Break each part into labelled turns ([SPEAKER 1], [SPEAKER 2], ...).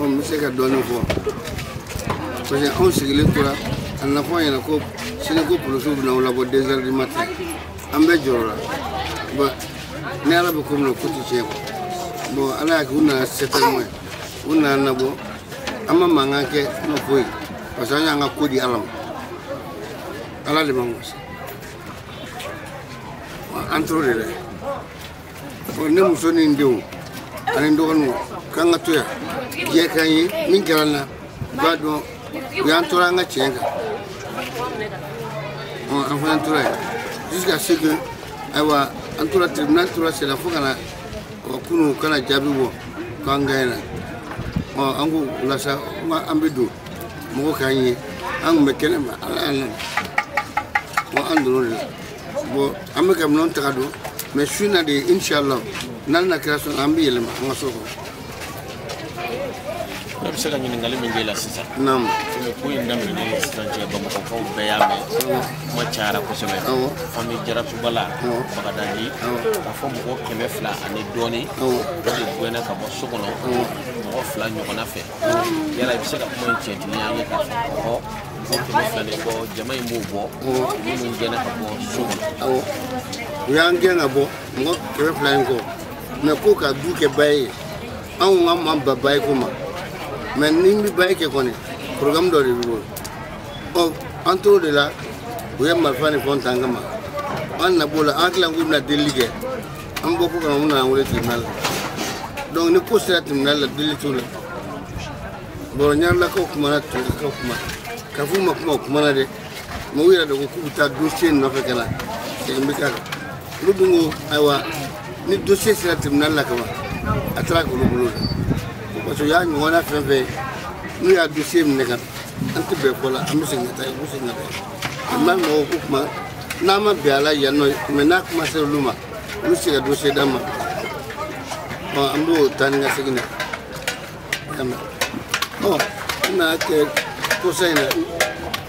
[SPEAKER 1] n bɛ se ka dɔɔnin fɔ parce que anw sigilen tora a na fɔ an ɲɛna ko sini ko polisiw bɛna aw labɔ deux heures du matin an bɛɛ jɔrɔla bon ni ala bɛ ko min na ko tɛ tiɲɛ quoi bon ala y'a kɛ u nana se tɛ mɔgɔ ye u nana an labɔ an ma mankan kɛ an ma foyi parce que an y'an ka ko di ala ma ala de ma gosi an tora o de dɛ ne muso ni n denw ani n dɔgɔninw k'an ka to yan diɲɛ k'an ye min kɛra n na u b'a dɔn u y'an tɔɔrɔ an ka tiɲɛ kan an fana tora yen jusqu'à ce que ayiwa an tora tribunal tora senna fo ka na ɔ kunun ka na jaabi bɔ k'an gaɲena ɔ an ko o la sa an ka an bɛ don mɔgɔ k'an ye an tun bɛ kɛnɛ ma ala y'an nana ɔ an donna o de la bon an bɛ ka minɛnw ta ka don mais su in na de inshallah n'ala n'a kira sɔnna an bɛ yɛlɛma an ka so kɔnɔ ne bɛ se ka ɲininkali min k'e la sisan naamu ko in daminɛ ni sisan cɛ bamakɔkaw bɛɛ y'a mɛn kuma cayara kosɛbɛ famille jarasubala bagadaji k'a fɔ mɔgɔ kɛmɛ fila ani dɔɔni o de gɛnna ka bɔ so kɔnɔ mɔgɔ fila ɲɔgɔnna fɛ yala i bɛ se ka kuma in tiɲɛtigiya an ye k'a fɔ mɔgɔ mɔgɔ kɛmɛ fila de bɔ jama in b'o bɔ minnu gɛnna ka bɔ so kɔnɔ u y'an gɛn ka bɔ mɔgɔ kɛmɛ fila in kɔ mais ko ka du kɛ bail ye anw k'an ma ban bail ko ma mais n'i bɛ bail kɛ kɔni programme dɔ de b'i bolo ɔ an t'o de la u ye marifa ni fɛnw ta an kama an na b'o la an hakili la k'u bɛna delili kɛ an bɔ kɔ ka na u nana an wele tribunal la donc ni ko sera tribunal la delili t'o la bon ɲarelakaw kumana turekaw kuma k'a f'u ma kuma u kumana dɛ mais u yɛrɛ de ko k'u bɛ taa dossier nɔfɛ ka na segin bɛ k'a kan olu dun ko ayiwa ni dossier sera tribunal la kaban a taara k'olu bolo dan parce que u y'a ɲɔgɔnna fɛn fɛn ye n'u y'a dossier minɛ ka an tɛ bɛn ko la an bɛ segin ka taa yen u bɛ segin ka taa yen an b'a mɔgɔw ko kuma n'a ma bɛn a la yan nɔ mais n'a kuma sera olu ma olu se ka dossier d'an ma ɔ an b'o taa ni ka segin na y'a mɛn ɔ n nana kɛ kɔsa in na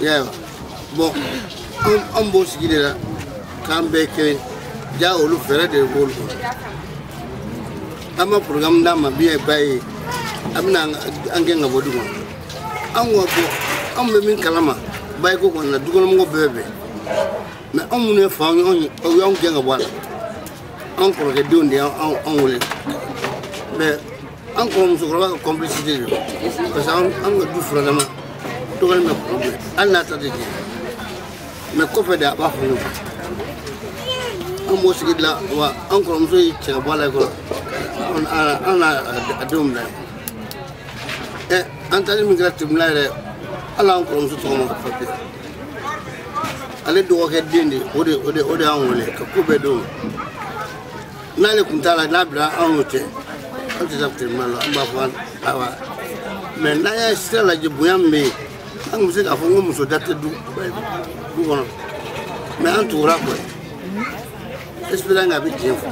[SPEAKER 1] ya bon an an b'o sigi de la k'an bɛɛ kelen jaa olu fɛɛrɛ de b'olu kɔnɔ an ma programme d'a ma biɲɛ ba ye a bɛna an gɛn ka bɔ du kɔnɔ an ko ko anw bɛ min kalama bail ko kɔni na dukɔnɔmɔgɔw bɛɛ bɛn mais anw minnu ye faw ye aw y'anw gɛn ka bɔ a la anw kɔrɔkɛdenw de y'anw wele mais an kɔrɔmuso kɔrɔba ka complicité de don parce que an ka du furadama dɔgɔnin bɛ kɔrɔ bɛɛ hali n'a ta tɛ tiɲɛ mais kɔfɛ de a b'a fɔ ɲɔgɔn an b'o sigi de la wa an kɔrɔmuso ye cɛ ka bɔ a la kɔrɔ an n'a a denw bila ɛ an taali min kɛra tribunal yɛrɛ hali an kɔrɔmuso tɔgɔ ma papiye ale dɔgɔkɛ den de o de o de o de y'an wele ka ko bɛɛ d'o ma n'ale tun t'a la n'a bila anw y'o tɛ an tɛ taa tɛmɛ la an b'a fɔ awa mais n'an y'a sira lajɛ bonya min bɛ yen an tun bɛ se k'a fɔ n ko muso da tɛ du du kɔnɔ mais an tugura a kɔ espérant k'a bɛ tiɲɛ fɔ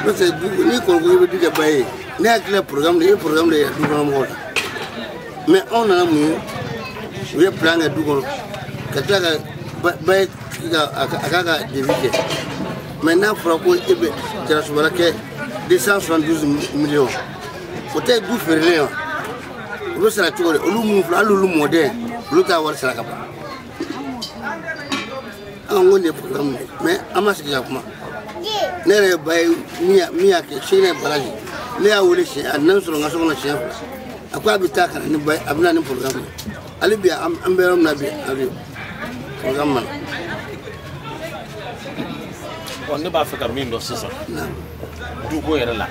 [SPEAKER 1] n'o tɛ ni kɔrɔkɛ bɛ du kɛ bayi ne hakili la programme de ye programme de ye du kɔnɔ mɔgɔw la mais anw nana mun ye u ye plan kɛ du kɔnɔ ka tila ka ba ye a k'a ka devis kɛ mais n'a fɔra ko e bɛ jarasumala kɛ 272 millions o tɛ du feerelen wa olu sara cogo de olu minnu filɛ hali olu mɔden olu t'a wari sara ka ban an ko nin ye programme de mais an ma sigi ka kuma ne yɛrɛ bayi min y'a kɛ sini ye bala de ne y'a wele siɲɛ a nana n sɔrɔ n ka so kɔnɔ siɲɛ fila a ko a bɛ taa ka na ni bayi ye a bɛ na ni programme ye hali bi an bɛ yɔrɔ min na bi a ka programme ma na ne b'a fɛ ka min dɔn sisan duko yɛrɛ la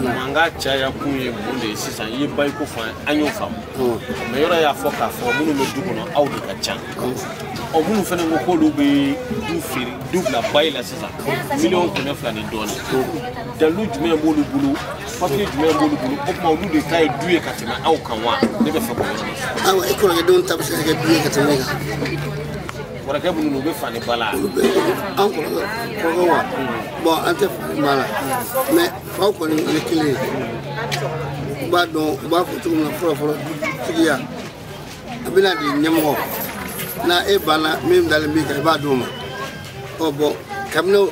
[SPEAKER 1] mankan caya kun ye mun de ye sisan i ye bayiko fɔ an y'o faamu mais yɔrɔ y'a fɔ k'a fɔ minnu bɛ du kɔnɔ aw de ka ca ɔ minnu fana ko k'olu bɛ du feere du bila bayi la sisan miliyɔn kɛmɛ fila ni dɔɔni dalilu jumɛn b'olu bolo papiye jumɛn b'olu bolo o tuma olu de ta ye du ye ka tɛmɛ aw kan wa ne b'a fɛ k'o yɔrɔ de fɔ. awa i kɔrɔkɛ denw ta bɛ se ka kɛ du ye ka tɛmɛ e kan kɔrɔkɛ minnu u bɛ fa ni ba la olu bɛ an kɔrɔkɛ kɔrɔkɛ wa bon an tɛ fa ni ba la mais faw kɔni o ye kelen ye u b'a dɔn u b'a fɔ cogo min na fɔlɔfɔlɔ dutigiya a bɛna di ɲɛmɔgɔ na e banna min dalen b'i kan i b'a d'o ma ɔ bon kabini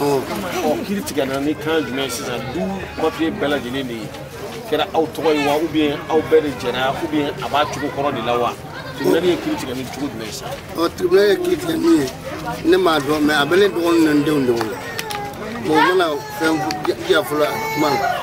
[SPEAKER 1] ɔ kiri tigɛna ni kan jumɛn sisan du papiye bɛɛ lajɛlen de kɛra aw tɔgɔ ye wa ou bien aw bɛɛ de jɛra ou bien a b'a cogo kɔrɔ de la wa tribunal ye kiri tigɛ ni cogo jumɛn ye sa ɔ tribunal ye kiri tigɛ min ye ne m'a dɔn mais a bɛ ne dɔgɔnin ni denw de wolo bon u mana fɛn diya fɔlɔ kuma na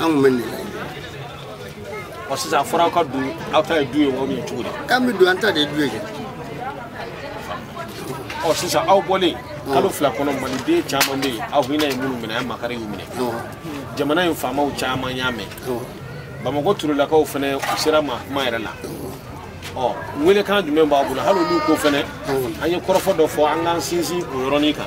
[SPEAKER 1] an tun bɛ nin laɲini ɔ sisan a fɔra aw ka don aw ta ye du ye wa a bɛ cogo di k'an bɛ don an ta de ye du ye kɛ ɔ sisan aw bɔlen kalo fila kɔnɔ maliden caman bɛ yen aw hinɛ ye minnu minɛ a ye makari y'u minɛ jamana in faamaw caman y'a mɛn bamakɔ turelakaw fana u sera a ma kuma yɛrɛ la ɔ welekan jumɛn b'aw bolo hali olu ko fana an ye kɔrɔfɔ dɔ fɔ an k'an sinsin o yɔrɔnin kan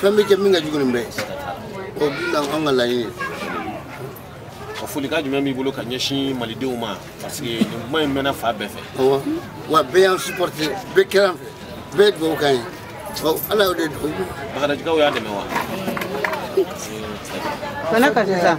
[SPEAKER 1] fɛn bɛ kɛ min ka jugu nin bɛɛ o bi na an ka laɲini ka folikan jumɛn b'i bolo ka ɲɛsin malidenw ma parce que nin kuma in mɛnna fan bɛɛ fɛ awɔ wa bɛɛ y'an supporté bɛɛ kɛra an fɛ bɛɛ ye dugawu k'an ye ɔ ala y'o de dugawu bakadajikaw y'an dɛmɛ wa bana ka sisan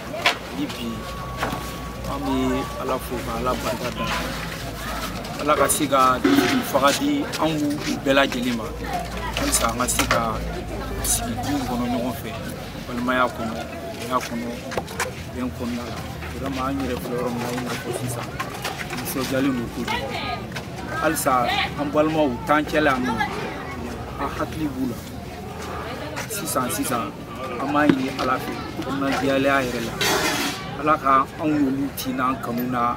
[SPEAKER 1] hali bi an bɛ ala fo ka ala barika da ala ka se ka fanga di anw bɛɛ lajɛlen ma halisa an ka se ka sigi du kɔnɔ ɲɔgɔn fɛ balimaya kɔnɔ ya kɔnɔ bɛn kɔnɔna la vraiment an yɛrɛ filɛ yɔrɔ min na i n'a fɔ sisan nisɔndiyalen don kojugu halisa an balimaw t'an cɛla yan nɔ an hakili b'u la sisan sisan an b'a ɲini ala fɛ kɔnɔnajɛlenya yɛrɛ la ala ka anw n'olu tin n'an kanu na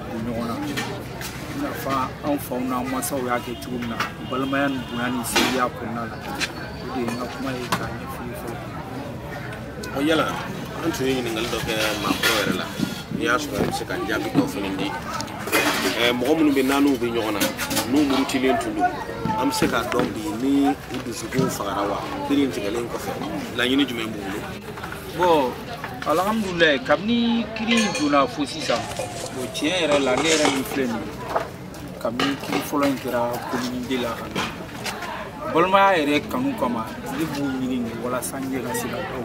[SPEAKER 1] don ɲɔgɔn na i n'a fɔ anw faw n'an mansaw y'a kɛ cogo min na balimaya ni bonya ni sinjiya kɔnɔna la o de ye n ka kuma ye k'a ɲɛfɔ i ye fɔlɔ ɔ yala an tun ye ɲininkali dɔ kɛ maakɔrɔ yɛrɛ la n'i y'a sɔrɔ an bɛ se ka jaabi dɔ fana di mɔgɔ minnu bɛ naaniw bɛ ɲɔgɔn na n'u murutilen tun don an bɛ se k'a dɔn bi ni u dusukun fagara wa kiri in tigɛlen kɔfɛ laɲini jumɛn b'u bolo bɔn alhamdulilayi kabini kiri in donna fo sisan bɔn tiɲɛ yɛrɛ la ne yɛrɛ min filɛ nin ye kabini kiri fɔlɔ in kɛra komini de la ka na balimaya yɛrɛ kanu kama ne b'u ɲini nin walasa n yɛrɛ ka se ka dɔw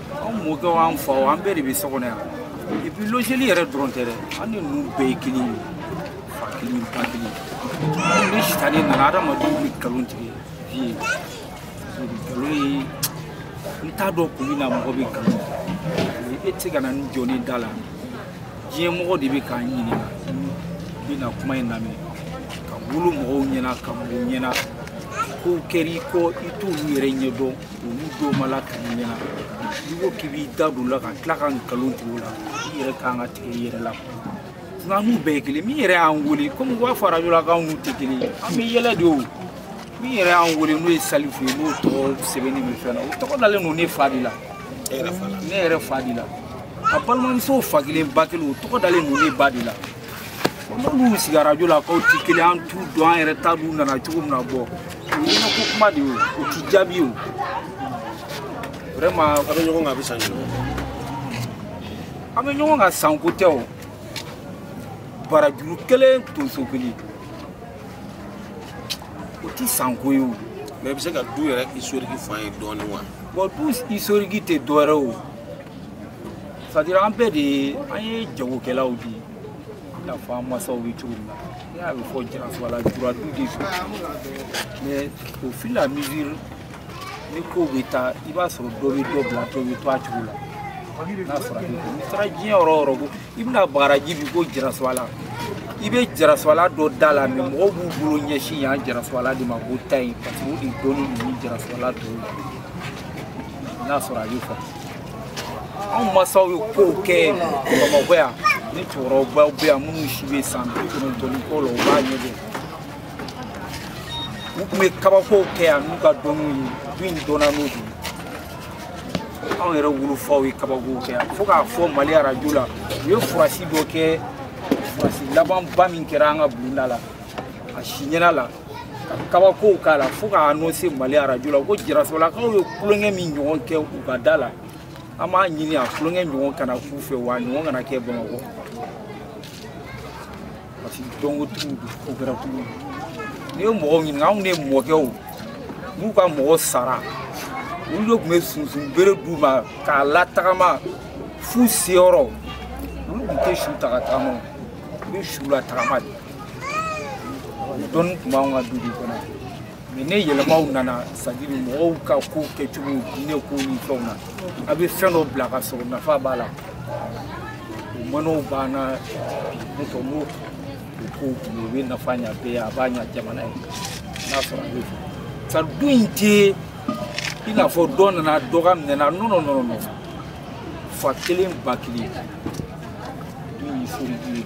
[SPEAKER 1] anw mɔkɛw an faw an bɛɛ de bɛ so kɔnɔ yan epi logeli yɛrɛ dɔrɔn tɛ dɛ an ni ninnu bɛɛ ye kelen ye fa kelen ba kelen anw ni sitanɛ nana adamadenw bɛ nkalon tigɛ bi ye nkalon ye n t'a dɔn kun min na mɔgɔ bɛ nkalon tigɛ e tɛ se ka na i jɔ ne da la diɲɛ mɔgɔ de bɛ k'an ɲininka bɛ na kuma in lamɛn ka wolo mɔgɔw ɲɛna ka mɔ u ɲɛna kow kɛr'i kɔ i t'olu yɛrɛ ɲɛdɔn olu dɔw ma lakali i ɲɛ na n'i ko k'i b'i da don o la ka tila ka nkalon tigɛ o la i yɛrɛ kan ka tigɛ i yɛrɛ la nka an n'u bɛɛ ye kelen min yɛrɛ y'an wele komi u b'a fɔ arajo la k'an n'u tɛ kelen ye an bɛ yɛlɛ de o min yɛrɛ y'an wele n'o ye salifu ye n'o tɔgɔ sɛbɛnnen bɛ fɛn na o tɔgɔ dalen don ne fa de la ne yɛrɛ fa de la a balimamuso fa kelen ba kelen o tɔgɔ dalen don ne ba de la n'olu sigi arajo la k'an ti kelen an t'u dɔn an yɛrɛ ta dun nana cogo min na bɔn o ye ko kuma de ye o ti jaabi o vraiment aw bɛ ɲɔgɔn kan a bɛ san joli an bɛ ɲɔgɔn kan san ko tɛ o barajuru kelen tonso kelen o ti san ko ye ɔ mais i bɛ se ka du yɛrɛ historique fɔ an ye dɔɔnin wa bɔn du historique tɛ dɔwɛrɛ o c'est-à-dire an bɛɛ de ye an ye jagokɛlaw de ye i n'a fɔ an masaw bɛ cogo min na ne y'a bɛ fɔ jarasubala juradu de fɛ mɛ au fil et à mesure ni kow bɛ taa i b'a sɔrɔ dɔ bɛ dɔ bila dɔ bɛ to a cogo la n'a sɔrɔ a bɛ n'i taara diɲɛ yɔrɔ o yɔrɔ ko i bɛna bagadaji bi ko jarasubala i bɛ jarasubala dɔ da la mɛ mɔgɔw b'u bolo ɲɛsin yan jarasubala de ma ko taa yen parce que o de dɔnnen don ni jarasubala tɔw ye n'a sɔrɔ a bɛ faamu anw masaw ye kow kɛ bamakɔ yan ni cɛkɔrɔbaw bɛ yan minnu si bɛ san bi kɔnɔntɔn ni kɔ la u b'a ɲɛ dɔn u tun bɛ kabakow kɛ yan n'u ka dɔnniw ye du in dɔnna n'o de ye anw yɛrɛ wolofaw ye kabakow kɛ yan fo k'a fɔ mali arajo la u ye furasi dɔ kɛ furasi labanba min kɛra an ka bulonda la a si ɲɛna la ka kabakow k'a la fo k'a annonce mali arajo la ko jarasubalakaw ye tulonkɛ min ɲɔgɔn kɛ u ka da la an b'a ɲini a tulonkɛ ɲɔgɔn kana k'u fɛ wa ɲɔgɔn kana kɛ bamakɔ parce que dɔnkotigiw don ko kɛra kulu n'i ye mɔgɔw ɲininka anw de mɔkɛw n'u ka mɔgɔ sara olu de tun bɛ sunsun bere d'u ma k'a latagama f'u seyɔrɔ olu tun tɛ su ta ka tagama u bɛ su latagama de dɔnni tun b'anw ka du de kɔnɔ mɛ ni yɛlɛmaw nana c'est-à-dire mɔgɔw ka ko kɛcogo diinɛ ko ni fɛnw na a bɛ fɛn dɔ bila ka sɔrɔ nafa b'a la o manaw b'an na ne fɔ n'o o ko o bɛ nafa ɲa bɛɛ a b'a ɲa jamana ye n'a sɔrɔ a bɛ fɔ sa du in tɛ i n'a fɔ dɔ nana dɔ ka minɛ na non non non fa kelen ba kelen du in ye furu du ye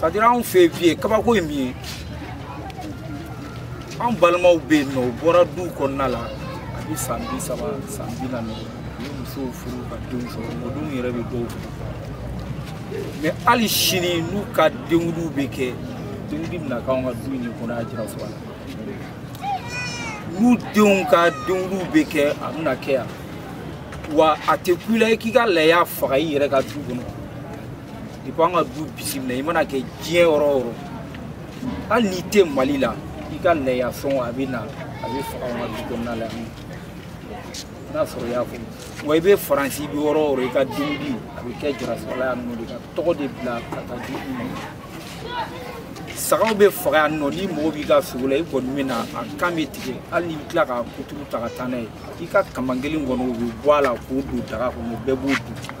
[SPEAKER 1] c'est-à-dire anw fɛ yen bi kabako ye min ye an balimaw bɛ yen nɔ u bɔra duw kɔnɔna la a bɛ san bi saba san bi naani u ye musow furu ka denw sɔrɔ mɔdenw yɛrɛ bɛ dɔw furu mɛ hali sini n'u ka denkundiw bɛ kɛ denkundi bɛna k'anw ka du in de kɔnɔ yan jarasubala n'u denw ka denkundiw bɛ kɛ a bɛna kɛ yan wa a tɛ kun i la i k'i ka laya faga i yɛrɛ ka du kɔnɔ depuis an ka du bisimila i mana kɛ diɲɛ yɔrɔ o yɔrɔ hali n'i tɛ mali la i ka laya fɛnw a bɛ na a bɛ faga an ka du kɔnɔna la yan n'a sɔrɔ i y'a faamu wa i bɛ faransi i bɛ yɔrɔ o yɔrɔ i ka dumuni a bɛ kɛ jarasubala yan nɔ de ka tɔgɔ de bila ka taa di i ma sagaw bɛ faga yan nɔ n'i mago b'i ka sogo la i kɔni bɛ na a kan bɛ tigɛ hali n'i bɛ tila k'a kuturu ta ka taa n'a ye i ka kaman kelen kɔni o bɛ bɔ a la k'o don daga kɔnɔ bɛɛ b'o dun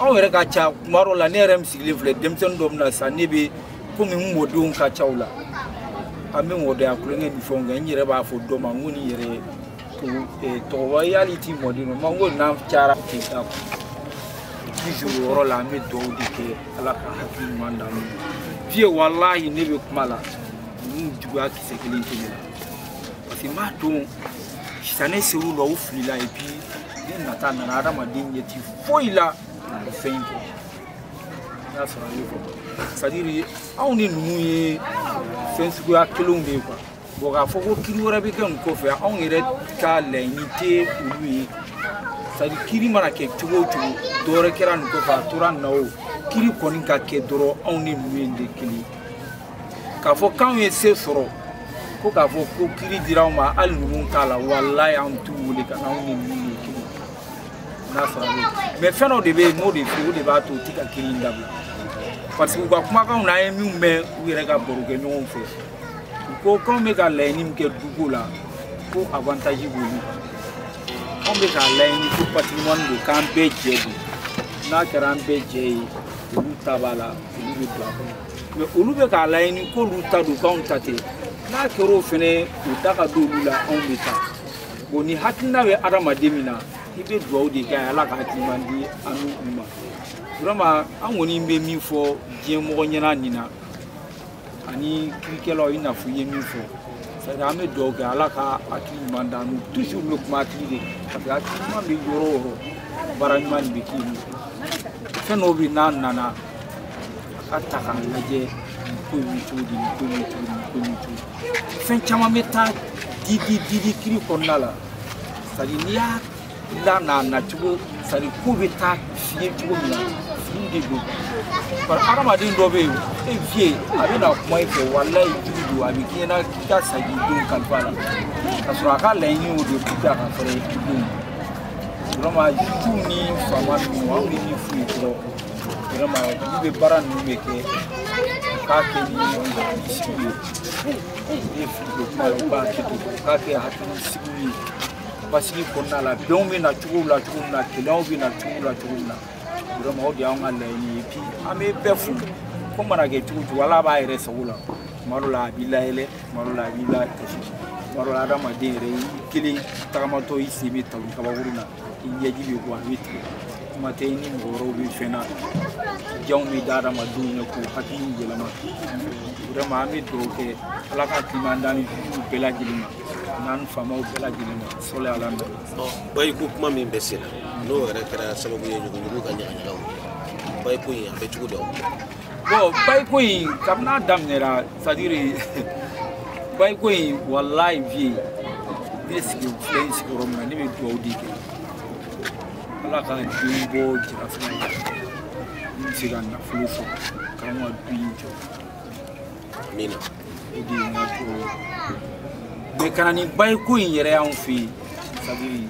[SPEAKER 1] anw yɛrɛ ka ca kuma dɔ la ne yɛrɛ min sigilen filɛ denmisɛnnin dɔ min na sisan ne bɛ komi n mɔdenw ka ca u la an bɛ mɔdenya tulonkɛ ni fɛnw kɛ n yɛrɛ b'a fɔ dɔ ma n ko nin yɛrɛ tɔgɔba ye hali t'i mɔden dɔ ma n ko n'an cayara ten ta toujours o yɔrɔ la an bɛ dugawu de kɛ ala ka hakili ɲuman d'an ma fiye walahi ne bɛ kuma la ninnu juguya kisɛ kelen tɛ ne la parce que n b'a dɔn sitanɛ ser'u la u filila et puis ni nata nana adamaden ɲɛ ti foyi la o fɛn in kɔ n y'a sɔrɔ a ye fɔ c'est à dire anw ni ninnu ye fɛn suguya kelenw de ye quoi bon k'a fɔ ko kiri wɛrɛ bɛ kɛ nin kɔfɛ anw yɛrɛ ka laɲini tɛ olu ye c'est à dire kiri mana kɛ cogo o cogo dɔ wɛrɛ kɛra nin kɔfɛ a tora nin na o kiri kɔni ka kɛ dɔrɔn anw ni ninnu ye de kelen ye k'a fɔ k'anw ye se sɔrɔ ko k'a fɔ ko kiri dira anw ma hali ninnu t'a la walayi anw t'u wele ka n'anw ni ninnu ye kiri n'a sɔrɔ bɛ mɛ fɛn dɔ de bɛ yen n'o de fɛ o de b'a to u ti ka kiri in dabila parce que u ka kumakanw na an ye min mɛn u yɛrɛ ka baro kɛ ɲɔgɔn fɛ u ko k'anw bɛ ka laɲini min kɛ duko la ko avantage b'olu kan anw bɛ k'a laɲini ko patrimoine don k'an bɛɛ jɛ don n'a kɛra an bɛɛ jɛ ye olu ta b'a la olu bɛ don a kɔnɔ mais olu bɛ k'a laɲini k'olu ta don k'anw ta tɛ n'a kɛr'o fɛnɛ u da ka don olu la anw bɛ taa bon ni hakilina bɛ adamaden min na i bɛ dugawu de kɛ ala ka hakili ɲuman di an n'u ma vraiment an kɔni bɛ min fɔ diɲɛ mɔgɔ ɲɛna nin na ani kirikɛlaw i n'a fɔ i ye min fɔ c'est an bɛ dugawu kɛ ala ka hakili ɲuman d'an n'u toujours bɛ kuma hakili de parce que hakili ɲuman bɛ yɔrɔ o yɔrɔ baara ɲuman de bɛ kɛ yen fɛn dɔw bɛ yen n'a nana a ka ta k'a lajɛ ko in bɛ cogo di nin ko in bɛ cogo di nin ko in bɛ cogo di fɛn caman bɛ taa di di di di kiri kɔnɔna la sadi n'i y'a la n'a nacogo sadi ko bɛ taa fiye cogo min na fini de don bari hadamaden dɔ bɛ yen e viye a bɛ na kuma i fɛ walayi jugu don a bɛ k'i ɲɛna k'i ka sagi don kalifa la ka sɔrɔ a ka laɲini y'o de ye k'i ka ka fɛɛrɛ i denw vraiment tu ni faama ninnu an bɛ min f'u ye dɔrɔn vraiment olu bɛ baara ninnu bɛɛ kɛ k'a kɛ ni hakilisigi ye ne ye fili don kuma ye u ka hakili to k'a kɛ hakilisigi ye basigi kɔnɔna la bɛnw bɛ na cogo la cogo min na kelenyaw bɛ na cogo la cogo min na vraiment o de y'anw ka laɲini ye puis an bɛ bɛɛ fo ko mana kɛ cogo o cogo ala b'a yɛrɛ sago la tuma dɔ la a b'i layɛlɛ tuma dɔ la a b'i lakasi tuma dɔ la adamaden yɛrɛ i kelen tagamatɔ i sen bɛ talon kabakurun na i ɲɛji bɛ bɔ a bɛ tigɛ kuma tɛ ni mɔgɔ wɛrɛw bɛ fɛn na janw bɛ da adamadenw ɲɛ k'u hakili yɛlɛma vraiment an bɛ dugawu kɛ ala ka kiman da ni dugu bɛɛ lajɛlen ma n'an faamaw bɛɛ lajɛlen ma sɔli ala na bayi ko kuma min bɛ sen na n'o yɛrɛ kɛra sababu ye ɲuguɲugu ka ɲagaɲagaw bayi ko in a bɛ cogo di bɔn bayiko in kabini a daminɛra sadiri bayiko in walayi vie ne sigi filɛ in sigiyɔrɔ min na ne bɛ dugawu de kɛ ala ka den bɔ jirafɛn na n bɛ se ka nafolo sɔrɔ k'an ka du in jɔ amina o de ye n ka dugawu ye mais ka na ni bayiko in yɛrɛ y'anw fɛ yen sadiri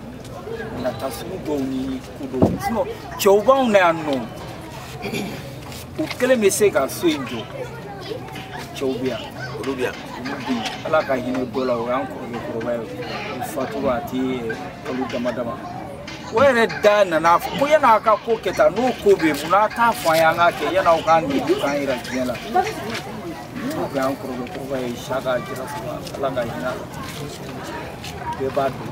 [SPEAKER 1] nata sugu dɔw ni ko dɔw cɛw b'anw na yan nɔ o kelen bɛ se ka so in jɔ cɛw bɛ yan olu bɛ yan olu bɛ yen ala ka hinɛ dɔ la o y'an kɔrɔkɛ kɔrɔba ye o fatura a tɛ kalo dama dama o yɛrɛ de nana ko yan'a ka ko kɛ tan n'o ko bɛ yen mun n'a t'a fɔ an ye an k'a kɛ yan'aw k'an nege k'an yɛrɛ diɲɛ la n'o bɛ an kɔrɔkɛ kɔrɔba ye sa k'a jira fɔlɔ ala ka hinɛ a la bɛɛ b'a dɔn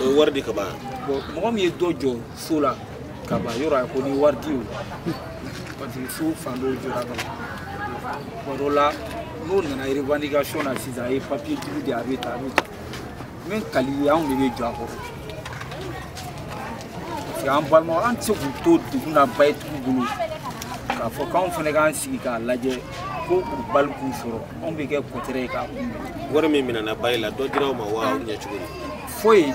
[SPEAKER 1] o ye wari de ka ban mɔgɔ min ye dɔ jɔ so la ka ban yɔrɔ a ko ni wari di o parce que so fan dɔw jɔra ka ban tuma dɔ la n'o nana revendication na sisan a ye papier jugu de a bɛ ta a bɛ ta min kali ye anw de bɛ jɔ a kɔrɔ parce que an balimaw an tɛ se k'u to degun na bayi tugu bolo k'a fɔ k'anw fana k'an sigi k'a lajɛ ko u bali k'u sɔrɔ anw bɛ kɛ kɔtɛrɛ ye k'a kunbɛn wari min minɛna bayi la dɔ dira aw ma wa aw ɲɛ cogo di foyi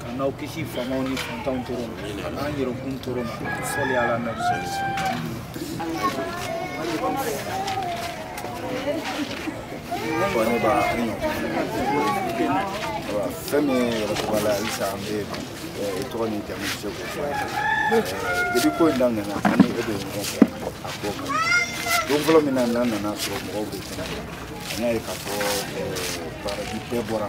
[SPEAKER 1] k'anw kisi faamaw ni fantanw tɔɔrɔ ma ka n'an yɛrɛkun tɔɔrɔ ma sɔli ala nabi ne b'a fɛn min ye yɛrɛtɔgɔ la halisa an bɛ i tɔgɔ ni jamu se k'o fɔ depuis ko in daminɛna an ni e bɛ ɲɔgɔn fɛ a ko kan don fɔlɔ min na n'an nana sɔrɔ mɔgɔw bɛ kɛnɛ kan an y'a ye k'a fɔ baraji bɛɛ bɔra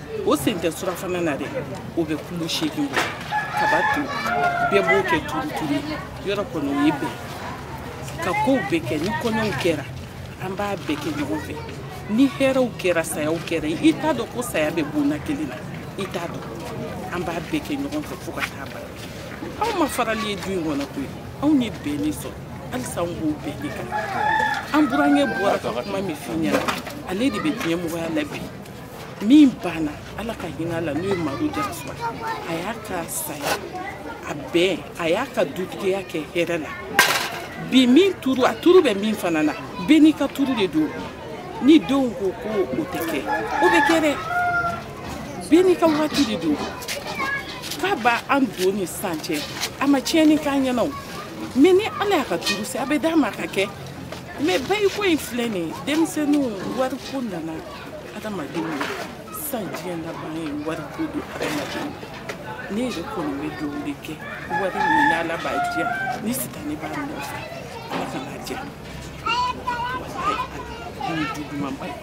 [SPEAKER 1] o sen tɛ surafana na dɛ o bɛ kilo seegin bɔ kabato bɛɛ b'o kɛ turuturu yɔrɔ kɔni o ye bɛn ka kow bɛɛ kɛ ni kɔɲɔw kɛra an b'a bɛɛ kɛ ɲɔgɔn fɛ ni hɛrɛw kɛra sayaw kɛra i t'a dɔn ko saya bɛ bonna kelen na i t'a dɔn an b'a bɛɛ kɛ ɲɔgɔn fɛ fo ka taa ban anw ma farali ye du in kɔnɔ koyi anw ye bɛn de sɔrɔ halisa anw b'o bɛn de kan an burankɛ bɔra ka kuma min f'i ɲɛna ale de bɛ diɲɛmɔgɔya la bi min banna ala ka hinɛ a la n'o ye madu jarasuba a y'a ka saya a bɛn a y'a ka dugutigiya kɛ hɛrɛ la bi min turu a turu bɛ min fana na bɛɛ n'i ka turu de don ni denw ko ko o tɛ kɛ o bɛ kɛ dɛ bɛɛ n'i ka waati de don k'a b'a an don ni sisan cɛ a ma tiɲɛni k'an ɲɛna o mɛ ni ala y'a ka turu se a bɛ d'a ma a k'a kɛ mɛ bayiko in filɛ nin ye denmisɛnninw wariko nana adamadenw ye sisan diɲɛ labana ye wariko don adamadenw ne yɛrɛ kɔni bɛ dugawu de kɛ wari min n'ala b'a diya ni sita ne b'a nɔfɛ ala kana a diya ni jugumanba ye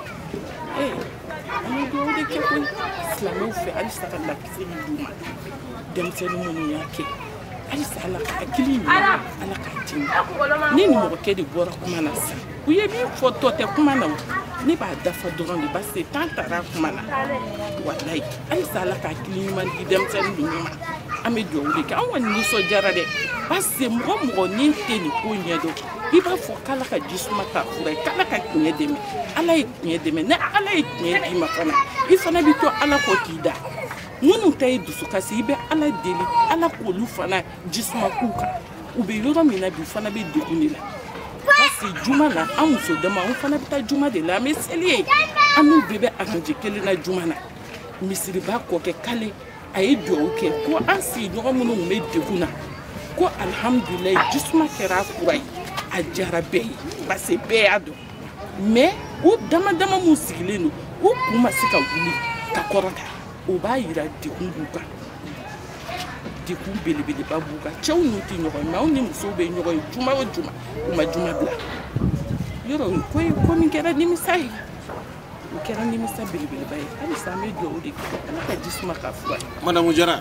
[SPEAKER 1] ee an bɛ dugawu de kɛ koyi silamɛw fɛ halisa ka lakisi min d'u ma denmisɛnnin minnu y'a kɛ halisa ala ka hakili ɲuman ala k'a d'i ma ne ni mɔgɔkɛ de bɔra kuma na sisan u ye min fɔ tɔ tɛ kuma na ne b'a dafa dɔrɔn de base tan taara kuma na walayi halisa ala ka hakili ɲuman di denmisɛnnin ninnu ma an bɛ dugawu de kɛ an kɔni nisɔndiyara dɛ base mɔgɔ mɔgɔ n'i tɛ nin ko ɲɛdɔn i b'a fɔ k'ala ka ji suma k'a fura ye k'ala ka tiɲɛ dɛmɛ ala ye tiɲɛ dɛmɛ ni ala ye tiɲɛ d'i ma fana i fana bɛ to ala kɔ k'i da minnu ta ye dusukasi i bɛ ala deli ala k'olu fana ji suma k'u kan u bɛ yɔrɔ min na bi u fana bɛ degun de la parce que juma na an muso dama an fana bɛ taa juma de la an bɛ seli yen an n'u bɛɛ bɛ aranje kelen na juma na misiriba kɔkɛ kale a ye dugawu kɛ ko an sigiɲɔgɔn minnu tun bɛ degun na ko alihamudulilayi ji suma kɛra a fura ye a diyara bɛɛ ye parce que bɛɛ y'a dɔn mais u dama dama minnu sigilen don u kun ma se ka wuli ka kɔrɔta o b'a yira degun b'u kan degun belebeleba b'u kan cɛw n'u tɛ ɲɔgɔn ye mɛ anw ni musow bɛ ɲɔgɔn ye juma o juma u ma juma bila yɔrɔ nin ko ye ko min kɛra nimisa ye o kɛra nimisa belebeleba ye halisa an bɛ dugawu de kɛ ala ka ji suma k'a fura madamu jara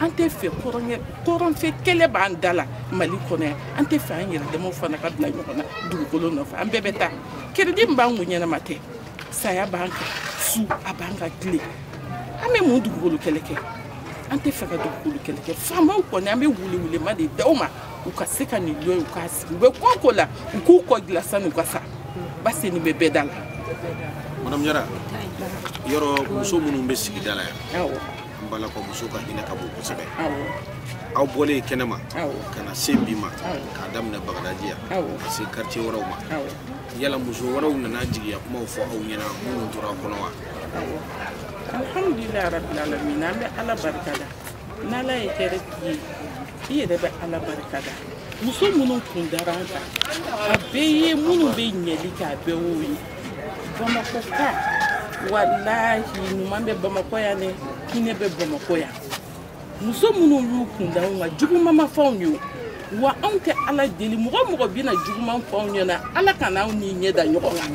[SPEAKER 1] an tɛ fɛ kɔrɔnfɛ kɛlɛ b'an da la mali kɔnɔ yan an tɛ fɛ an yɛrɛdamaw fana ka bila ɲɔgɔn na dugukolo nɔfɛ an bɛɛ bɛ taa keredi min b'an kun ɲɛnama tɛ saya b'an kan su a b'an kan tile an bɛ mun dugukolo kɛlɛ kɛ an tɛ fɛ ka dugukolo kɛlɛ kɛ faamaw kɔni an bɛ welewele de da u ma u ka se ka nin dɔ ye u k'a sigi u bɛ ko o ko la u k'u kɔ dilan san'u ka sa base nin bɛ bɛɛ da la madame jara yɔrɔ muso minnu bɛ sigida la yan an b'a dɔn ko muso ka hinɛ ka bon kosɛbɛ aw bɔlen kɛnɛ ma ka na se bi ma k'a daminɛ bagadaji yan ka se quartier wɛrɛw ma yala muso wɛrɛw nana jigiya kumaw fɔ aw ɲɛna minnu tora kɔnɔ wa alhamdulilayi rabil alamin an bɛ ala barika da n'ala ye hɛrɛ k'i ye i yɛrɛ bɛ ala barika da muso minnu kun dara an kan a bɛɛ ye minnu bɛ ɲɛli kɛ a bɛɛ y'o ye bamakɔkaw walahi ɲuman bɛ bamakɔ yan dɛ hinɛ bɛ bamakɔ yan muso minnu y'u kunda anw kan juguman ma fɔ anw ye wa anw tɛ ala deli mɔgɔ o mɔgɔ bɛna juguman fɔ anw ɲɛna ala kana anw ni ɲɛ da ɲɔgɔn kan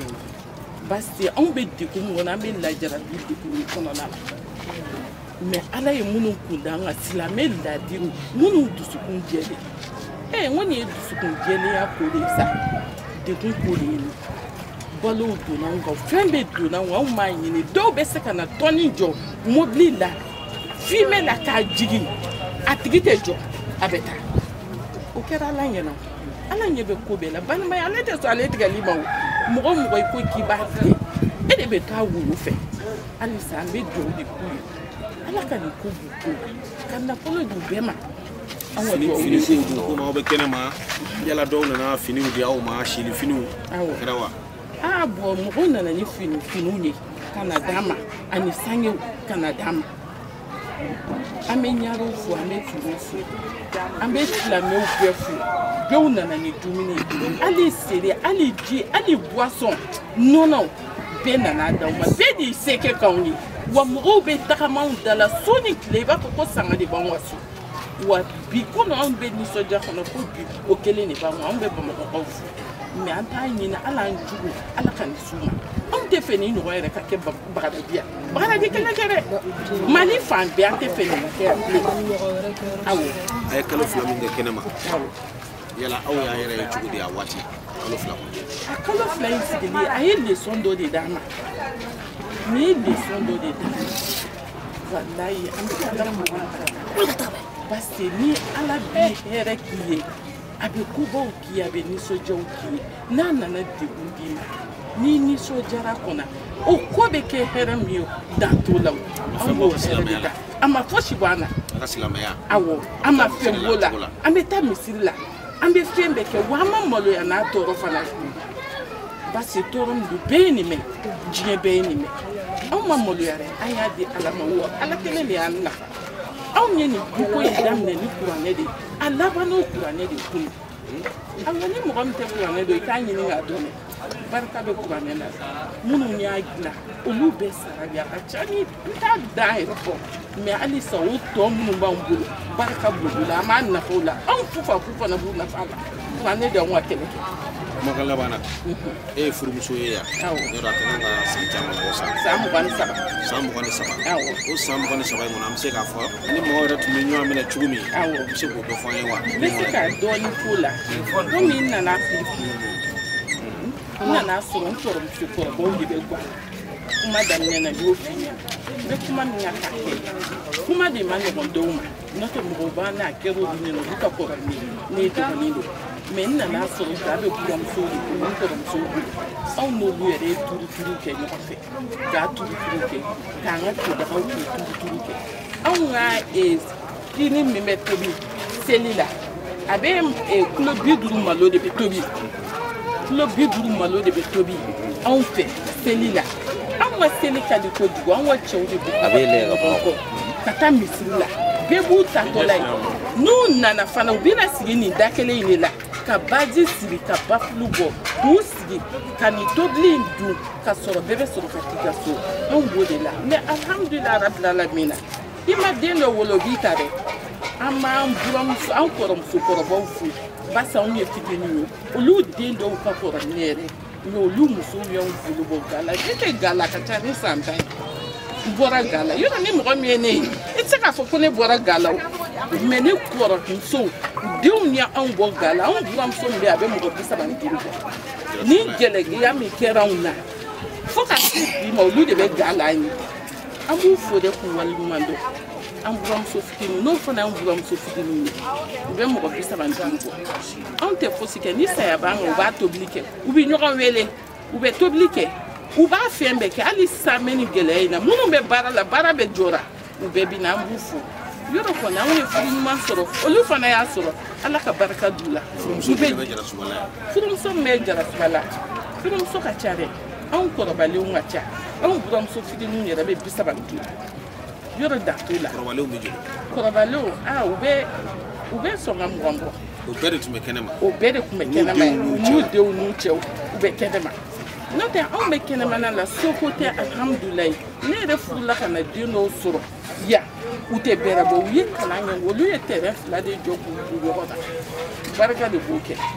[SPEAKER 1] parce que anw bɛ degun min kɔnɔ an bɛ lajarabi degun kɔnɔna la mɛ ala ye minnu kunda an kan silamɛ ladiri minnu dusukun jɛlen ee n ko nin ye dusukun jɛlenya ko de ye sa degun ko de ye nin balow donna anw kan fɛn bɛɛ donna anw anw m'a ɲini dɔw bɛ se ka na tɔni jɔ mobili la fimɛ la k'a jigin a tigi tɛ jɔ a bɛ taa o kɛra ala ɲɛna ala ɲɛ bɛ ko bɛɛ la balimaya ale tɛ sɔn ale tigɛli ma mɔgɔ o mɔgɔ i ko k'i b'a tigɛ e de bɛ to a wolo fɛ halisa an bɛ dugawu de k'u ye ala ka nin ko b'u ko la ka nafolo d'u bɛɛ ma fini kow dun komi aw bɛ kɛnɛ ma yala dɔw nana finiw di aw ma seli finiw o kɛra wa aa bɔn mɔgɔw nana ni fini finiw ye ka na d'an ma ani sangew ka na d'an ma an bɛ ɲarew fo an bɛ turew fo an bɛ silamɛw bɛɛ fo dɔw nana ni dumuni ye hali seri hali ji hali buwasɔn nɔnɔw bɛɛ nana d'an ma bɛɛ y'i seko k'anw ye wa mɔgɔw bɛ tagama anw da la su ni tile i b'a fɔ ko sanga de b'an ka so wa bi kɔni anw bɛ nisɔndiya kɔnɔ ko bi o kelen de b'an anw bɛ bamakɔkaw fo mɛ an t'a ɲini ala an jugu ala ka nin s'u ma anw t'a fɛ nin ɲɔgɔn yɛrɛ ka kɛ bagadaji yan bagadaji kelen tɛ dɛ mali fan bɛɛ an t'a fɛ nin ka kɛ yan bilen awɔ aw ye kalo fila min kɛ kɛnɛ ma yala aw y'aw yɛrɛ ye cogo di a waati kalo fila kɔnɔ a kalo fila in sigili a ye leson dɔ de d'an ma nin ye leson dɔ de d'an ma walayi an bɛ ka taa mɔgɔ la parce que ni ala bɛ hɛrɛ k'i ye a bɛ kobaw k'i ye a bɛ nisɔndiyaw k'i ye n'a nana degun d'i ma n'i nisɔndiyara kɔnɔ o ko bɛ kɛ hɛrɛ min ye dan t'o la o an b'o hɛrɛ de ta a ma fosi bɔ an na an ka silamɛya awɔ a ma fɛn b'o la an bɛ taa misiri la an bɛ fɛn bɛɛ kɛ wa an ma maloya n'a tɔɔrɔ fana parce que tɔɔrɔ min don bɛɛ ye nin mɛn diɲɛ bɛɛ ye nin mɛn anw ma maloya dɛ an y'a di ala ma wa ala kelen de y'an nafa anw ye nin duko in daminɛ ni kuranɛ de ye a laban n'o kuranɛ de ye kunun aw ni mɔgɔ min tɛ kuranɛ dɔn i k'a ɲini k'a dɔn barika bɛ kuranɛ la minnu y'a dilan olu bɛɛ sara bi a ka ca ni n t'a dan yɛrɛ fɔ mɛ halisa o tɔ minnu b'an bolo barika b'olu la an b'an nafa o la anw fufafu fana b'u nafa a la kuranɛ de y'anw ka kɛlɛ kɛ kumakan laban na e ye furumuso ye yan yɔrɔ a ka kan ka san caman bɔ san san mugan ni saba san mugan ni saba o san mugan ni saba in kɔnɔ an bɛ se k'a fɔ ni mɔgɔ yɛrɛ tun bɛ ɲɔgɔn minɛ cogo min awɔ i bɛ se k'o dɔ fɔ an ye wa n bɛ se ka dɔɔnin f'o la komi n nana f'i n nana sɔrɔ n kɔrɔmuso kɔrɔbaw de bɛ guwa kuma daminɛ na n y'o f'i ɲɛna n bɛ kuma min na k'a kɛ kuma de man nɔgɔn dɔw ma n'o tɛ mɔgɔw b'a n'a kɛra olu ɲɛna olu ka kɔrɔ ni ne ye dɔgɔnin don mɛ n nana sɔrɔ da bɛ buramusow de bolo n kɔrɔmusow bolo anw n'olu yɛrɛ ye turuturu kɛ ɲɔgɔn fɛ k'a turuturu kɛ k'an ka todagaw k'u turuturu kɛ anw ka kini min bɛ tobi seli la a bɛ kulo bi duuru malo de bɛ tobi kulo bi duuru malo de bɛ tobi anw fɛ seli la anw ka seli ka di kojugu anw ka cɛw de bɛ ɲɔgɔn kɔ ka taa misiri la bɛɛ b'u taatɔla ye n'u nana fana u bɛna sigi nin da kelen in de la ka baji siri ka bafulu bɔ k'u ka nin tobili in dun ka sɔrɔ bɛɛ bɛ sɔrɔ ka t'i ka so anw b'o de la mɛ alhamdulila rabilalamina i ma den dɔ wolo b'i ta dɛ an b'an buramuso an kɔrɔmuso kɔrɔbaw fo barisa anw ye fitini ye olu den dɔw ka kɔrɔ ne yɛrɛ mɛ olu musow y'anw bolo bɔ ga la ne tɛ ga la ka ca ni san tan ye bɔra ga la yɔrɔ ni mɔgɔ min ye ne ye i tɛ se k'a fɔ ko ne bɔra ga la o mɛ ne kɔrɔmusow denw ye anw bɔ ga la anw buramuso min bɛ a bɛ mɔgɔ bi saba ni duuru bɔ nin gɛlɛya min kɛra anw na fo ka se bi ma olu de bɛ ga la an ye an b'u fo de k'u waleɲuman dɔn an buramuso fitiniw n'o fana y'an buramuso fitiniw ye u bɛ mɔgɔ bi saba ni duuru bɔ anw tɛ fosi kɛ ni saya b'an kan u b'a tobili kɛ u bɛ ɲɔgɔn wele u bɛ tobili kɛ u b'a fɛn bɛɛ kɛ hali sisan bɛ nin gɛlɛya in na minnu bɛ baara la baara bɛɛ jɔra u bɛɛ bɛ na an b'u fo yɛrɛ kɔni anw ye furu ɲuman sɔrɔ olu fana y'a sɔrɔ ala ka barika d'u la furumuso min bɛ jarasuba la furumuso ka ca dɛ anw kɔrɔbalenw ka ca anw buramuso fitininw yɛrɛ bɛ bi saba ni duuru yɔrɔ dan t'o la kɔrɔbalenw bɛ joli kɔrɔbalenw aa u bɛ u bɛ sɔn ka mugan bɔ o bɛɛ de tun bɛ kɛnɛma o bɛɛ de tun bɛ kɛnɛma n'u denw n'u cɛw u bɛ kɛnɛma n'o tɛ anw bɛ kɛnɛmana la soko tɛ alihamudulilayi ne yɛrɛ furula ka na den dɔw sɔrɔ yan u tɛ bɛrɛ bɔ u ye kalan kɛ olu ye tɛrɛn fila de jɔ k'u ɲɔgɔn na barika de b'o kɛ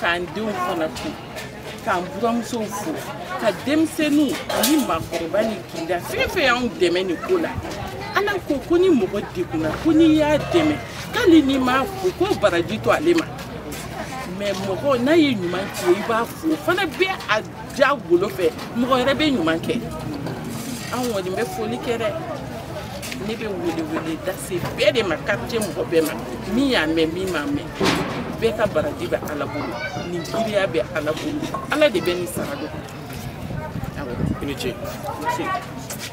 [SPEAKER 1] k'an denw fana fo k'an buramusow fo ka denmisɛnninw ani maakɔrɔba nin kinda fɛn fɛn y'anw dɛmɛ nin ko la ala ko ko ni mɔgɔ degunna ko n'i y'a dɛmɛ k'ali n'i m'a fo ko baraji to ale ma mɛ mɔgɔ n'a ye ɲuman k'i ye i b'a fo o fana bɛ a ja golo fɛ mɔgɔ yɛrɛ bɛ ɲuman kɛ an kɔni bɛ foli kɛ dɛ ne bɛ welewele lase bɛɛ de ma quartier mɔgɔ bɛɛ ma min y'a mɛn min m'a mɛn bɛɛ ka baraji bɛ ala bolo nin girinya bɛ ala bolo ala de bɛ nin sara dɔn i ni ce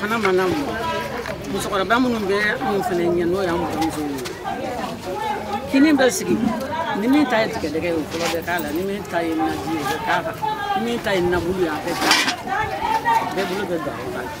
[SPEAKER 1] fana ma lamɔ musokɔrɔba minnu bɛ anw fana ɲɛ n'o y'an buranmuso ye kini bɛ sigi ni min ta ye tigɛdɛgɛ ye o fɔlɔ bɛ k'a la ni min ta ye naji ye o bɛ k'a kan ni min ta ye nabulu ye a bɛ k'a kan bɛɛ bolo bɛ don a kan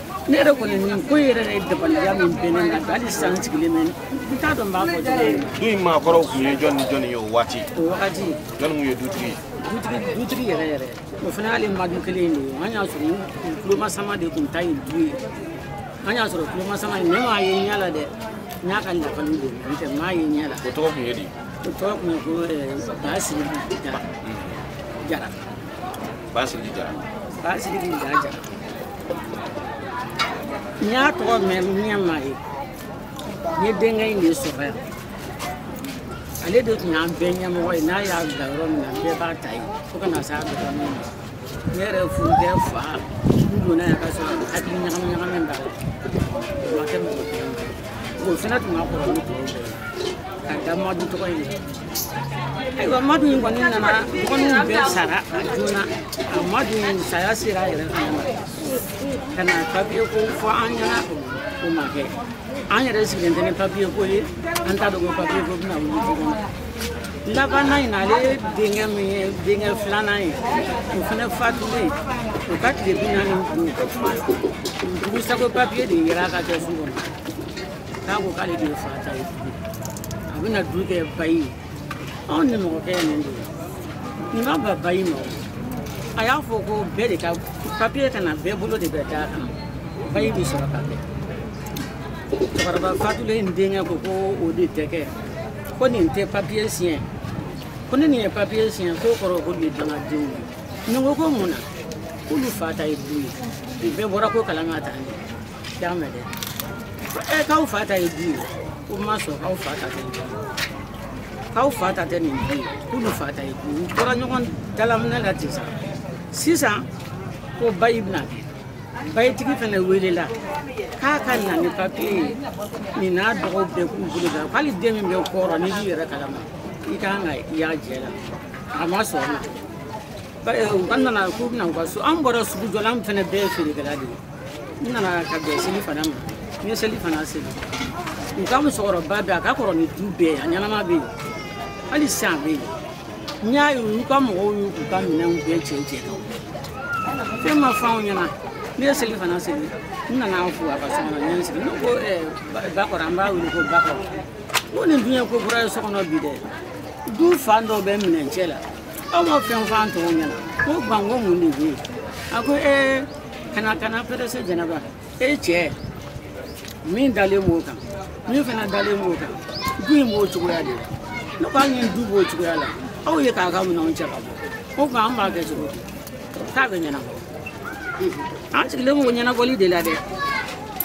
[SPEAKER 1] ne yɛrɛ kɔni nin ko yɛrɛ de ye dabaliya min bɛ ne na halisa n sigilen bɛ n t'a dɔn n b'a fɔ cogo min du in maakɔrɔw tun ye jɔni ni jɔni ye o waati o wagati jɔni tun ye dutigi ye dutigi dutigi yɛrɛ yɛrɛ o fana y'ale madu kelen in de ye an y'a sɔrɔ u tulomasama de tun ta ye du ye an y'a sɔrɔ tulomasama in ne m'a ye ɲɛ la dɛ n y'a ka lakali de n tɛ m'a ye ɲɛ la o tɔgɔ tun ye di o tɔgɔ tun ye ko ba sirili jara jara ba sirili jara ba sirili jara jara n y'a tɔgɔ mɛn n ɲɛ m'a ye n ye denkɛ in de sɔrɔ yan ale de tun y'an bɛɛ ɲɛmɔgɔ ye n'a y'a bila yɔrɔ min na bɛɛ b'a ta yen fo ka na se a dɔgɔnin ma ne yɛrɛ furukɛ fa n donna yan k'a sɔrɔ hakili ɲagami ɲagami b'a la o ma kɛ mɔgɔ kelen o fana tun ka kɔrɔ ni tɔw bɛɛ ye ka da madu tɔgɔ in ayiwa madu in kɔni nana dɔgɔninw bɛɛ sara a joona a madu in saya sera a yɛrɛ fana ma ka na papiye ko fɔ an ɲɛ na o ma kɛ an yɛrɛ sigilen tɛ ni papiye ko ye an t'a dɔn ko papiye ko bɛna wuli du kɔnɔ labanna in na ale denkɛ min ye denkɛ filanan ye o fana fatulen o ka tile bi naani duuru dugusagwɛ papiye de yera a ka kɛsu kɔnɔ k'a ko k'ale de fa ta ye a bɛna du kɛ bayi ye anw nimɔgɔkɛ ye nin de ye nin ma ban bayi ma a y'a fɔ ko bɛɛ de ka papiye ka na bɛɛ bolo de bɛ d'a kan bayi bɛ sɔrɔ ka kɛ cɛkɔrɔba fatulen in denkɛ ko ko o de tɛ kɛ ko nin tɛ papiye siɲɛ ko ni nin ye papiye siɲɛ k'o kɔrɔ ko nin ye dangadenw ye nin ko ko mun na k'olu fa ta ye du ye nin bɛɛ bɔra ko kalan ka taa ɲɛ Dame dɛ. Eh, k'aw fa ta ye du ye. K'o ma sɔn k'aw fa ta tɛ nin du ye. K'aw fa ta tɛ nin du ye. K'olu fa ta ye du ye. U tora ɲɔgɔn dalaminɛ la ten sa. Sisan ko bayi bɛna kɛ. Bayitigi fana welela k'a ka na ni papiye ye. Nin n'a dɔgɔw bɛɛ k'u bolo da. Hali den min bɛ kɔrɔ n'i b'i yɛrɛ kalama i kan ka y'a jɛ la. A ma sɔn o ma. Ba- eh, U ka nana k'u bɛna u ka so. An bɔra sugujɔ la an fana bɛɛ ye feerekɛla de ye. n nana ka bɛn selifana ma n ye selifana seli u ka musokɔrɔba bɛ a ka kɔrɔ ni du bɛɛ a ɲɛnama bɛ yen hali sisan a bɛ yen n y'a ye olu ka mɔgɔw y'u k'u ka minɛnw bɛɛ cɛ cɛ ka fɛn ma fɔ anw ɲɛna ne ye selifana seli n nana an fo a ka so kɔnɔ n ye n sigi ne ko bakɔrɔ an b'a wele ko bakɔrɔ n ko nin dun ye ko kura ye so kɔnɔ bi dɛ du fan dɔ bɛ minɛn cɛ la aw ma fɛn fɔ an tɔw ɲɛna n ko ba ko mun de bɛ yen a ko ee kana kana pɛrɛse jɛnɛba e cɛ min dalen b'o kan min fana dalen b'o kan du in b'o cogoya de la ne ko hali ni du b'o cogoya la aw ye k'a ka minɛnw cɛ ka bɔ o tuma an b'a kɛ cogo di k'a bɛ ɲɛnabɔ an sigilen b'o ɲɛnabɔli de la dɛ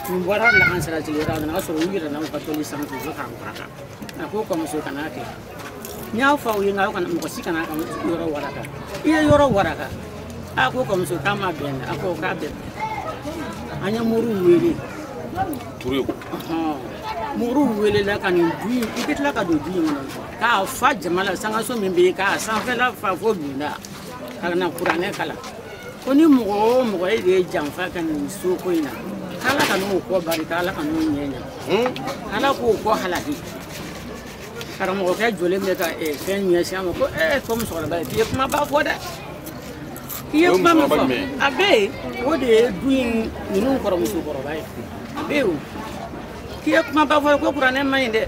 [SPEAKER 1] nin bɔra lahan siratigɛ yɔrɔ a nana sɔrɔ u yɛrɛ n'u ka tɔli sanfɛ u bɛ k'an kɔrɔ kan a ko kɔmuso kan'a kɛ n y'a fɔ aw ye nka aw kana mɔgɔ si kana a ka yɔrɔ waraka i ye yɔrɔ waraka a ko ka muso k'a ma bɛn a ko k'a bɛn an ye moriw wele turu moriw welela ka nin du in i bɛ tila ka don du in kɔnɔ k'a fa jama la sankanso min bɛ yen k'a sanfɛla fa fo dunda ka na kuranɛ kalan ko ni mɔgɔ o mɔgɔ e de ye janfa kɛ nin so ko in na k'ala kan'o kɔ barika ala kan'o ɲɛ ɲa ala k'o kɔ halaki karamɔgɔkɛ jɔlen bɛ ka eh, fɛn ɲɛsin a ma ko ee a fɔ musokɔrɔba ye k'i ye kumaba fɔ dɛ i ye kuma min fɔ a bɛ yen o de ye du in ninnu kɔrɔmuso kɔrɔba ye a bɛ yen o k'i ye kumaba fɔ ko kuranɛ man ɲi dɛ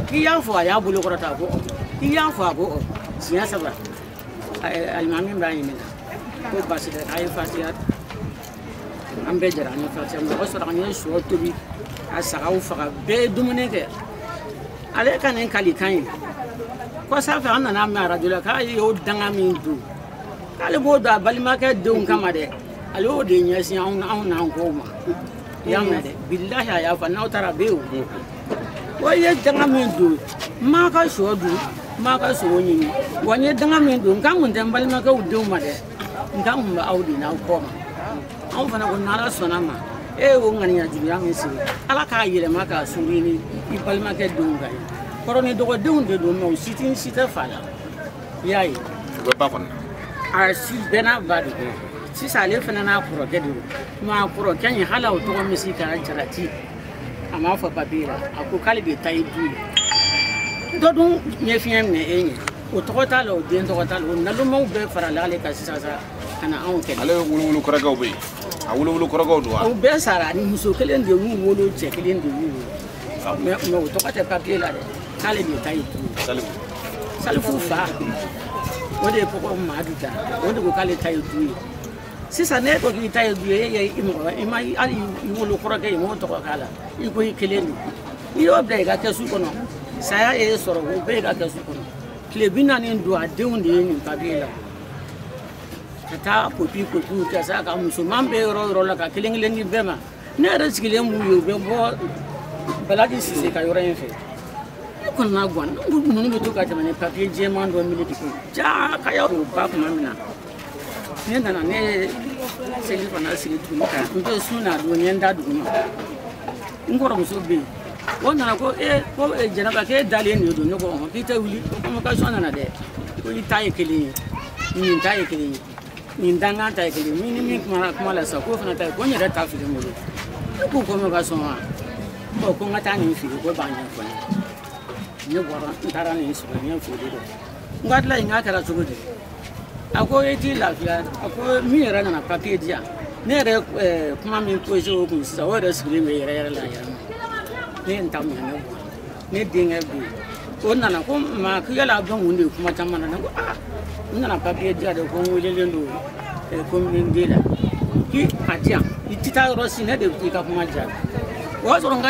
[SPEAKER 1] k'i y'a fɔ a y'a bolo kɔrɔta a ko k'i y'a fɔ a ko siɲɛ saba alimami b'a ɲininka ko baasi tɛ k'a ye fatiya an bɛɛ jɛra an ye faransɛ mɔgɔ sɔrɔ an ye sɔ tobi ka sagaw faga bɛɛ ye dumuni kɛ ale ka nin kalikan ye kɔsa fɛ an nana mɛn arajo la k'a y'o danga min don k'ale b'o don a balimakɛ denw kama dɛ ale y'o de ɲɛsin anw anw n'an kɔw ma i y'a mɛn dɛ bilahi a y'a fɔ n'aw taara a bɛ yen o wa i ye danga min don n m'a ka sɔ dun n m'a ka sogo ɲimi wa n ye danga min don nka n kun tɛ n balimakɛw denw ma dɛ nka n kun bɛ aw de n'aw kɔ ma anw fana ko n'ala sɔnna ma e y'o ŋaniya juguya min sigi ala k'a yɛlɛma k'a sigi i balimakɛ denw kan yen kɔrɔ ni dɔgɔdenw de don mɛ u si tɛ si tɛ fa la i y'a ye u bɛ ba kɔnɔ a si bɛɛ n'a ba de sisan ale fana n'a kɔrɔkɛ de don mɛ a kɔrɔkɛ in hali o tɔgɔ min sigi kɛra jalati a m'a fɔ papiye la a ko k'ale de ta ye du ye dɔ dun ɲɛfiɲɛ minɛ e ɲɛ o tɔgɔ t'a la o den tɔgɔ t'a la o nalomaw bɛɛ farala ale kan sisan sa ka na anw kɛlɛ ale wolowolo kɔrɔkɛw bɛ yen a wolowolo kɔrɔkɛw don wa o bɛɛ sara ani muso kelen de y'u wolo cɛ kelen de y'u wolo ah mɛ mɛ o tɔgɔ tɛ papiye la dɛ k'ale de ta ye turu salifu salifu fa o de ye kɔkɔ madu ta o de ko k'ale ta ye du ye sisan ne ko k'i ta ye du ye e i mɔgɔ i ma hali i wolo kɔrɔkɛ i m'o tɔgɔ k'a la i ko i kelen don n'i y'o bila i ka kɛsu kɔnɔ saya ye e sɔrɔ o bɛ i ka kɛsu kɔnɔ tile bi naani don a denw de ye nin papiye ta ka taa kopi kopiw kɛ sa ka musoman bɛ yɔrɔ yɔrɔ la ka kelen kelen di bɛɛ ma ne yɛrɛ sigilen b'u ye u bɛ bɔ balaki sise ka yɔrɔ in fɛ ne kɔni na gan ninnu bɛ to ka tɛmɛ ni papiye jɛman dɔ mili de ko jaa ka y'a don ba tuma min na ne nana ne ye seli fana sigi tuguni ka n to sun na don n ye n da dugu ma n kɔrɔmuso bɛ yen o nana ko e ko jɛnɛba k'e dalen de don ne ko ɔn k'i tɛ wuli ko convocation nana dɛ ko i ta ye kelen ye nin ta ye kelen ye nin dankan ta ye kelen ye min ni min kumana kuma la sisan k'o fana ta ye ko n yɛrɛ ta filɛ n bolo ne ko convocation wa ɔ ko n ka taa nin filɛ k'o b'a ɲɛfɔ n ye ne bɔra n taara nin sɔrɔ n ye foli dɔ n ko tila in k'a kɛra cogo di a ko e t'i lafiya a ko min yɛrɛ nana papiye di yan ne yɛrɛ eh, kuma min poze o kun sisan o yɛrɛ sigilen bɛ yɛrɛ yɛrɛ la yɛrɛ ma ne ye n ta minɛ ne bɔ ne denkɛ bɛ yen o nana ko ma ko yala a bɛ mun de ye kuma caman na ne ko aa n nana papiye di yan de ko n welelen don eh, komini de la k'i a di yan i tɛ taa yɔrɔ si ne de bɛ t'i ka kuma jaabi o y'a sɔrɔ n ka